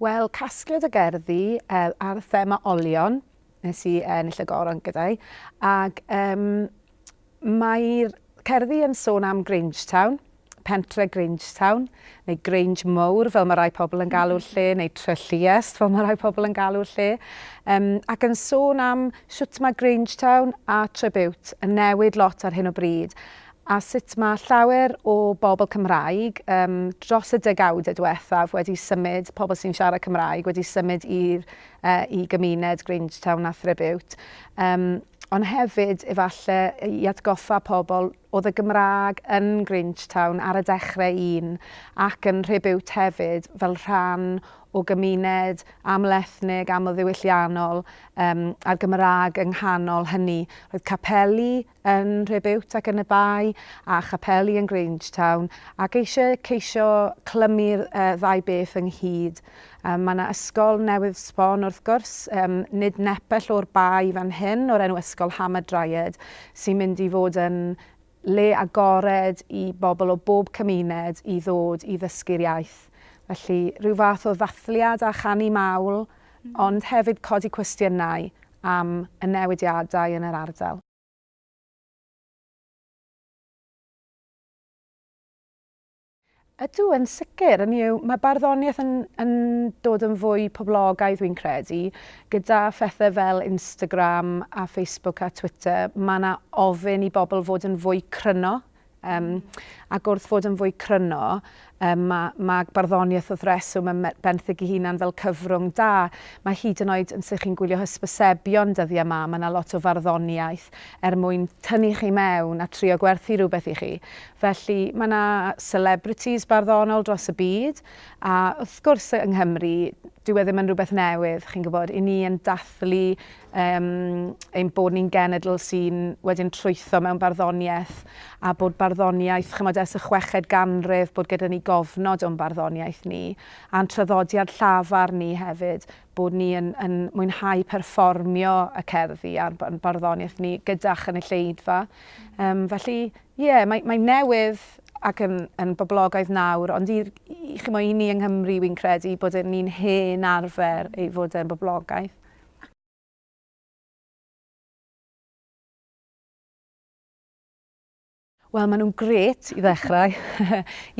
Wel, casgliad o gerddi uh, ar thema olion, nes i ennill y goron gyda'i, ac um, mae'r cerddi yn sôn am Grangetown, pentre Grangetown, neu Grange Mowr fel mae rai pobl yn galw'r lle, neu Trelliest fel mae rai pobl yn galw'r lle, um, ac yn sôn am sut mae Grangetown a Trebute yn newid lot ar hyn o bryd, a sut mae llawer o bobl Cymraeg um, dros y degawdau diwethaf wedi symud, pobl sy'n siarad Cymraeg wedi symud i'r, uh, i gymuned Grangetown a Threbute. Um, ond hefyd efallai i atgoffa pobl Oedd y Gymraeg yn Grangetown ar y dechrau un ac yn Rhibiwt hefyd fel rhan o gymuned amlethnig, amlddiwylliannol yym a'r Gymraeg yng nghanol hynny. Roedd capeli yn Rhibiwt ac yn y Bae a chapeli yn Grangetown ac eisiau ceisio clymu'r yy ddau beth ynghyd. Mae yna ysgol newydd sbon wrth gwrs, nid nepell o'r Bae fan hyn, o'r enw Ysgol Hamadryad, sy'n mynd i fod yn le agored i bobl o bob cymuned i ddod i ddysgu'r iaith. Felly, rhyw fath o ddathliad a chanu mawl, ond hefyd codi cwestiynau am y newidiadau yn yr ardal. Ydw, yn sicr, yn yw, mae barddoniaeth yn, yn dod yn fwy poblogaidd fi'n credu, gyda phethau fel Instagram a Facebook a Twitter, mae yna ofyn i bobl fod yn fwy cryno, um, ac wrth fod yn fwy cryno, um, mae, mae barddoniaeth wrth reswm yn benthyg i hunan fel cyfrwng da. Mae hyd yn oed yn sy'n chi'n gwylio hysbysebion dyddiau yma, mae yna lot o farddoniaeth er mwyn tynnu chi mewn a trio gwerthu rhywbeth i chi. Felly, mae 'na celebrities barddonol dros y byd, a wrth gwrs yng Nghymru, dyw e ddim yn rhywbeth newydd, chi'n gwybod, i ni yn dathlu um, ein bod ni'n genedl sy'n wedyn trwytho mewn barddoniaeth, a bod barddoniaeth, chymod, ers y chweched ganrif, bod gyda ni gofnod o'n barddoniaeth ni, a'n traddodiad llafar ni hefyd, bod ni yn, yn mwynhau perfformio y cerddi a'r barddoniaeth ni gyda chynulleidfa. Um, felly, Ie, mae, mae'n newydd ac yn, yn boblogaidd nawr, ond i'r, i, chimo, i ni yng Nghymru, wi'n credu bod yn ni'n hen arfer ei fod e'n boblogaidd. Wel, maen nhw'n grêt i ddechrau.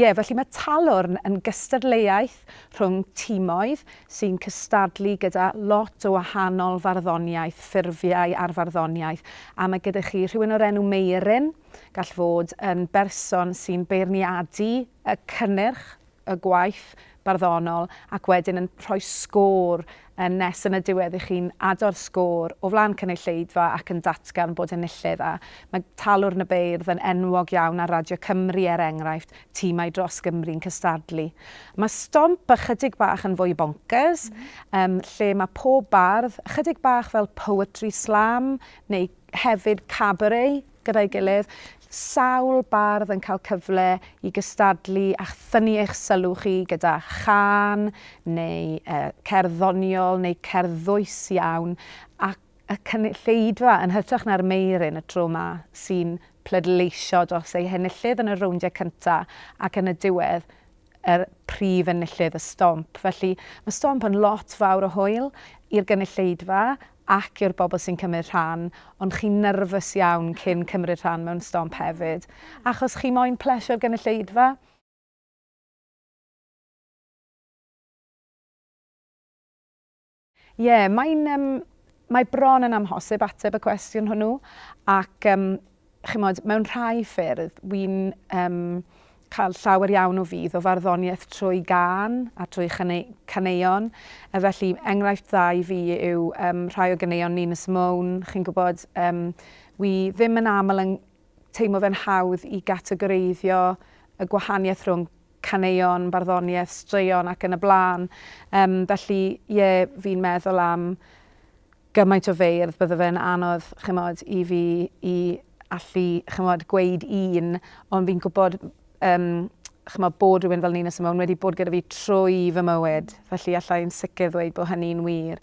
Ie, felly mae Talwrn yn gystadleuaeth gymhleth rhwng timoedd sy'n cystadlu gyda lot o wahanol farddoniaeth, ffurfiau ar farddoniaeth. A mae gyda chi rhywun o'r enw Meiryn, gall fod yn berson sy'n beirniadu y cynnyrch, y gwaith barddonol, ac wedyn yn rhoi sgôr Yn nes yn y diwedd i chi'n ado'r sgôr o flaen cynulleidfa ac yn datgan bod enillydd a mae Talwrn y Beirdd yn enwog iawn ar Radio Cymru er enghraifft, timau dros Gymru'n cystadlu. Mae stomp ychydig bach yn fwy bonkers, yym, lle mae pob bardd, ychydig bach fel poetry slam, neu hefyd cabaret, gyda'i gilydd, sawl bardd yn cael cyfle i gystadlu a thynnu eich sylw chi gyda chân neu cerdd ddoniol neu cerdd ddwys iawn a y cynulleidfa yn hytrach na'r meiryn y tro 'ma sy'n pleidleisio dros eu henillydd yn y rowndiau cyntaf ac yn y diwedd y prif enillydd y stomp. Felly, mae stomp yn lot fawr o hwyl i'r gynulleidfa ac i'r bobl sy'n cymryd rhan, ond chi'n nyrfys iawn cyn cymryd rhan mewn stomp hefyd, achos chi moyn plesio'r gynulleidfa. Ie, mae'n yym... Mae bron yn amhosib ateb y cwestiwn hwnnw, ac yym... Chimod, mewn rhai ffyrdd, wi'n um, cael llawer iawn o fydd o farddoniaeth trwy gan a trwy caneuon. A felly, enghraifft dda i fi yw um, rhai o ganeuon Nina Simone. Chi'n gwybod, um, wi ddim yn aml yn teimlo fe'n hawdd i gategoreiddio y gwahaniaeth rhwng caneuon, barddoniaeth, straeon ac yn y blaen. Um, felly, ie, yeah, fi'n meddwl am gymaint o feirdd, bydde fe'n anodd, ch'mod, i fi i allu, ch'mod, gweud un, ond fi'n gwybod, um, ch'mod, bod rhywun fel Nina Simone wedi bod gyda fi trwy fy mywyd, felly allai'n sicr ddweud bod hynny'n wir.